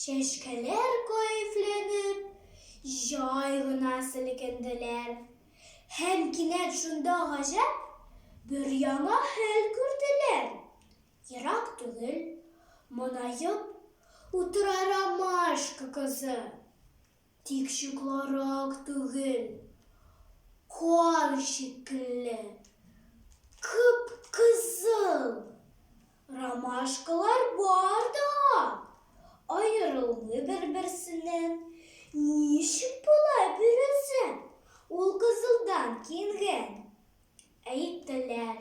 Чәчкәләр кәефләнеп, җай гына селкенделәр. Һәм кинәт шунда гаҗәп бер яңа хәл күрделәр. Ерак түгел, монаеп утыра ромашка кызы. Тик чукларак түгел, кар шикелле, кып-кызыл! Ромашкалар бар да, аерылмый бер-берсеннән. Ничек болай бирелсен, ул кызылдан киенгән? Әйттеләр.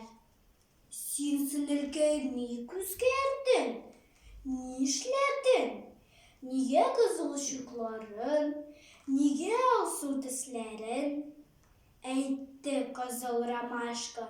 Син, сеңелкәй, ник үзгәрдең? Нишләдең? Нигә кызыл чукларын, нигә алсу тесләрен? Әйтте кызыл ромашка.